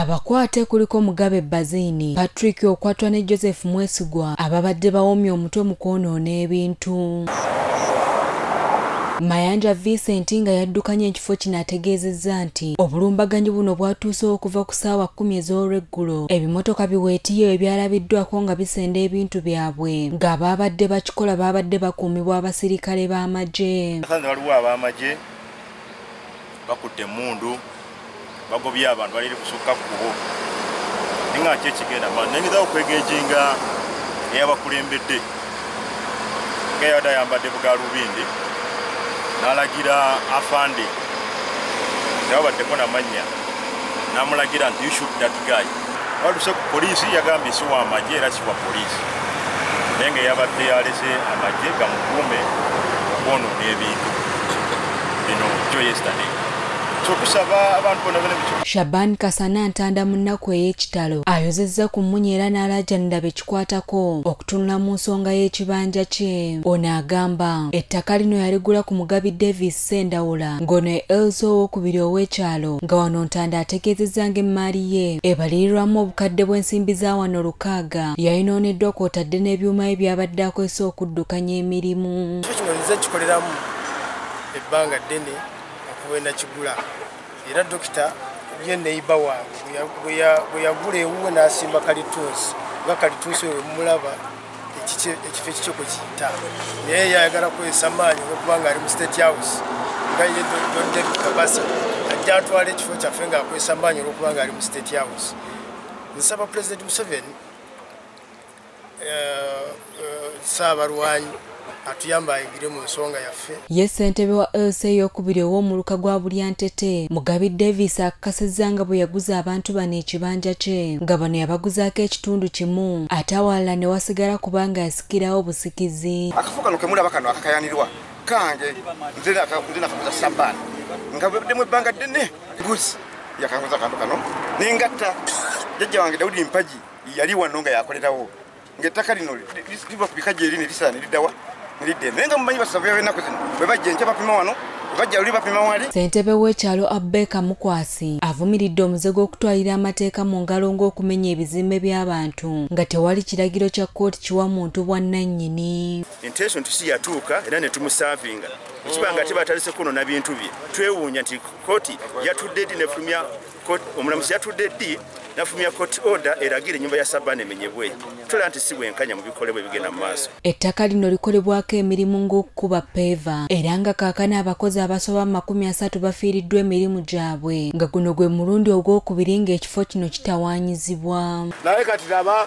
abakwate kuliko mugabe bazini patrick okwatwa ne joseph mwesigwa ababadde bawomye omutwe mu kwonoona ebintu mayanja vincent nga yaddukanya ekifo kino ategeezezza nti obulumbaganyi buno bwatuuse okuva ku ssaawa kkumi ez'olweggulo ebimotoka biweetiyo ebyalabiddwako nga bisenda ebintu byabwe ng'abaabadde bakikola baabadde bakuumibwa abasirikale b'amagye waliwo ab'amagye bakutte emundu bagobye abantu baliri kusukka kukubo naye nga nki ekigenda ma nengezawo okwegejinga eyabakulembedde nga yabadde ayambadde bugalubindi nalagira afande tebabaddeko namannya namulagira nti you shoot that guy baluse ku poliisi yagambye si wa magye era si wa poliisi naye nga yabadde yalese amagye gamukuume okwonoona ebintu bino kyo yesterday shaban kasana ntanda mu nnaku ey'ekitalo ayozezza ku mmunya era n'alaajanira bekikwatako okutunula mu nsonga y'ekibanja kye ono agamba ettaka lino yaligula ku mugabi davis Sendawula ng'ono ye Elsa owokubiri ow'ekyalo nga wano Ntanda ategeezezza ng'emmaali ye ebalirirwamu obukadde bw'ensimbi za wano lukaaga yayinooneddwa kw'otadde n'ebyuma bye byabadde akozesa okuddukanya emirimu. Ekyo kino nze nkikoleramu ebbanga ddene okuba enakigula. era dokita ye neiba wange bwe yagula ewuwe n'asimba kalitunsi nga kalitunsi oyo mumulaba ekifo ekikyo kwe kiyita naye yayagala kwesa maanyi olwokuba nga ali mu state house nga ye don david kabasa ajja atwala ekifo kyaffe ng'akwesa maanyi olwokuba nga ali mu state house nsaba pulezidenti museveni ssaabalwanyi atuyamba ayingire mu nsonga yaffe ye ssentebe wa lc eyokubiri ow'omuluka gwa bulyantete mugabi davis akakasizza nga bwe yaguza abantu bano ekibanja kye nga bano yabaguzaako ekitundu kimu ate awalala ne wasigala kubanga yasikirawo busikizi akafo kano kemulaba kano akakayanirwa kange nze nakaguza sabaani nga bweddemu ebbanga ddene guzi yakaguza akantu kano nengatta jajja wange daudi mpagi yali wano nga yakolerawo ngaettaka lino liba ku bika gyeri ne lisala ne liddawa ne lidda eno naye nga mumanyi basavu yabenaku zino bwe bajja enkya bapima wano ssentebe w'ekyalo abbeeka mukwasi avumiridde omuze gw'okutwalira amateeka mu ngalo ng'okumenya ebizimbe by'abantu nga tewali kiragiro kya kkooti kiwa muntu bwannannyini enteeso nti siyatuuka era ne tumusaavinga ekiba nga tebatalise kunona bintu bye twewuunya nti kkooti yatudde di nefulumya omulamuzi yatudde ddi nafulumya court order eragira ennyumba ya sabana emenyebwe tulaba nti si bwenkanya mu bikolebwa ebigenda mu maaso ettaka lino likolebwako emirimu ng'okukuba peeva era nga kaakana abakozi abasoba mu makumi asatu bafiiriddwa emirimu gyabwe nga guno gwe mulundi ogw'okubiri ng'ekifo kino kitawaanyizibwa naye kati laba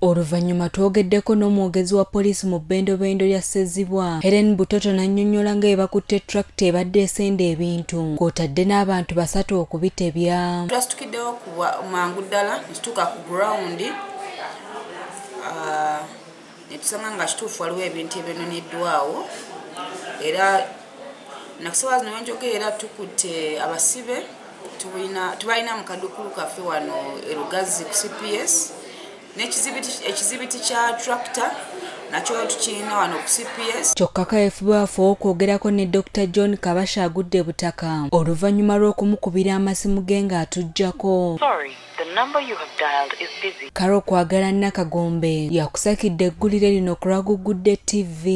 Oluvannyuma twogeddeko n'omwogezi wa poliisi mu bbendobendo lya Ssezibwa, Helen Butoto n'annyonnyola nga bwe bakutte tulakita ebadde esenda ebintu kw'otadde n'abantu basatu okubitebya. Twasitukiddewo ku mangu ddala ne tutuuka ku gurawundi ah, ne tusanga nga kituufu waliwo ebintu ebyononeddwawo era nakusawa zino wenjogeera tukutte abasibe tubalina mu kadukulu kaffe wano erugazi ku cps ekizibiti kya tractor nakyo tukirina wano ku cps kyokka kaefubaafu okwogerako ne dr john kabasha agudde butaka oluvannyuma lw'okumukubira amasimu ge ng'atuggyako kale okwagala nakagombe yakusakidde eggulire lino kulaguggudde ttivi